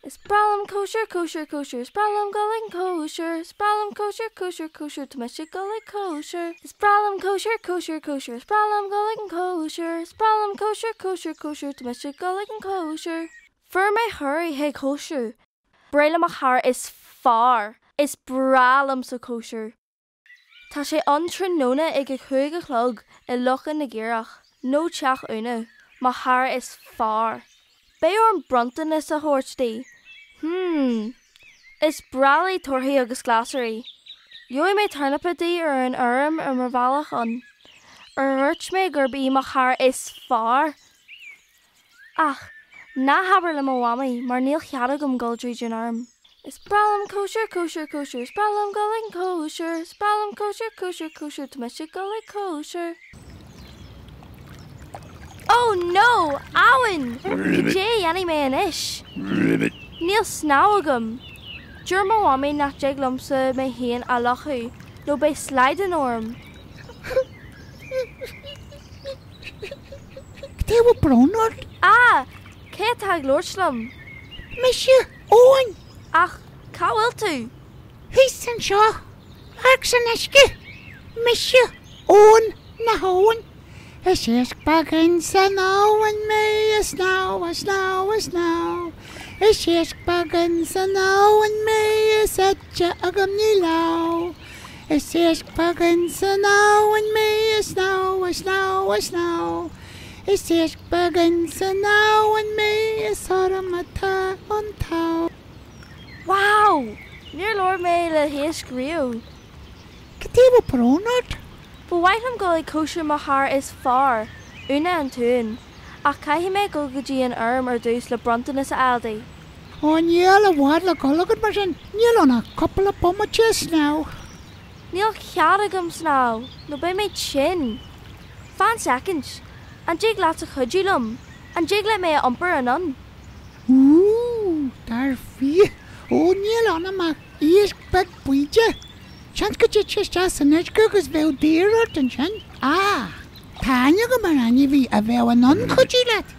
Is breá liom cóisir, cóisir, cóisir, Is breá liom dul ag cóisir. Is breá liom cóisir, cóisir, cóisir, Tá mise ag dul ag cóisir. Is breá liom cóisir, cóisir, cóisir, Is breá liom dul ag cóisir. Is breá liom cóisir, cóisir, cóisir, Tá mise ag dul ag cóisir. Fuair mé cuireadh chuig cóisir. Breithlá mo chara is fearr. Is breá liomsa cóisir. Tá sé ann tráthnóna ag a cúig a chlog i Loch na gCaorach, nó Teach Úna, mo chara is fearr. Beidh orm bronntanas a thabhairt di. Hmm. Is breá léi torthaí agus glasraí. Gheobhaidh mé tornapa di ar an fheirm ar mo bhealach ann. Ar dhúirt mé gurb í mo chara is fearr? Ach, ná habair le mo mhamaí mar níl chead agam dul tríd an fheirm. Is breá liom cóisir, cóisir, cóisir, is breá liom dul ag cóisir. Is breá liom cóisir, cóisir, cóisir, tá mise ag dul ag cóisir. Oh no! Abhainn! Cad é a dhéanfaidh mé anois? Níl snámh agam. Deir mo mhamaí nach dtig liomsa mé féin a fhliuchadh nó beidh slaghdán orm. Cad chuige a bhfuil brón ort? Á! Cé atá ag labhairt liom? Mise Eoin! Ach cá bhfuil tú? Thíos anseo! Amharc san uisce! Mise Eoin na hAbhann! Is iasc beag ins an abhainn mé, ag snámh, ag snámh, ag snámh! Is iasc beag ins an abhainn mé, is eite agam, ní lámh! Is iasc beag ins an abhainn mé ag snámh, ag snámh, ag snámh. Is iasc beag ins an abhainn mé is orm atá an t-ádh. Wow! Níor labhair mé le hiasc riamh. Cad chuige a bhfuil brón ort? Ba mhaith liom dul ag cóisir mo chara is fearr, Úna an t-uan, ach caithfidh mé dul go dtí an fheirm ar dtús le bronntanas a fháil di. Ó níl i bhfad le dhul agat mar sin, níl ann ach cúpla bomaite snámh. Níl cead agam snámh nó beidh mé tinn. Fan soicind, an dtig leatsa cuidiú liom, an dtig leat mé a iompar anonn? Úúú, dar fia, ó níl ionam ach iasc beag bídeach. Seans go dtitfeá isteach san uisce agus bheadh daor ort ansin. Ach tá aithne agam ar ainmhí a bheadh in ann cuidiú leat.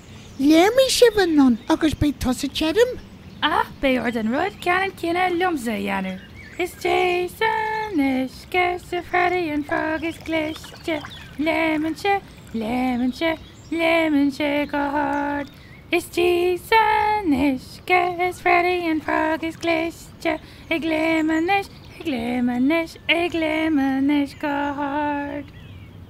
Léimfidh sibh anonn agus beidh tusa tirim. Ach beidh ort an rud ceannann céanna liomsa a dhéanamh. Is deas an uisce, arsa Freddie an frog is cliste. Léimeann sé, léimeann sé, léimeann sé go hard. Is deas an uisce, arsa Freddie an frog is cliste. Ag léim anois, ag léim anois, ag léim anois go hard.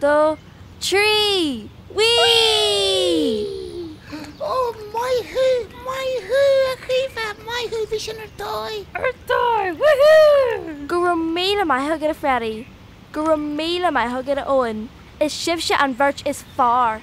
2, 3, Whee! Ó, maith thú, maith thú, a Chaoimhe, maith thú, bhí sin ar dóigh! Ar dóigh! Woohoo! Go raibh míle maith agat, a Phaddy! Go raibh míle maith agat, a Eoin! Is sibhse an bheirt is fearr!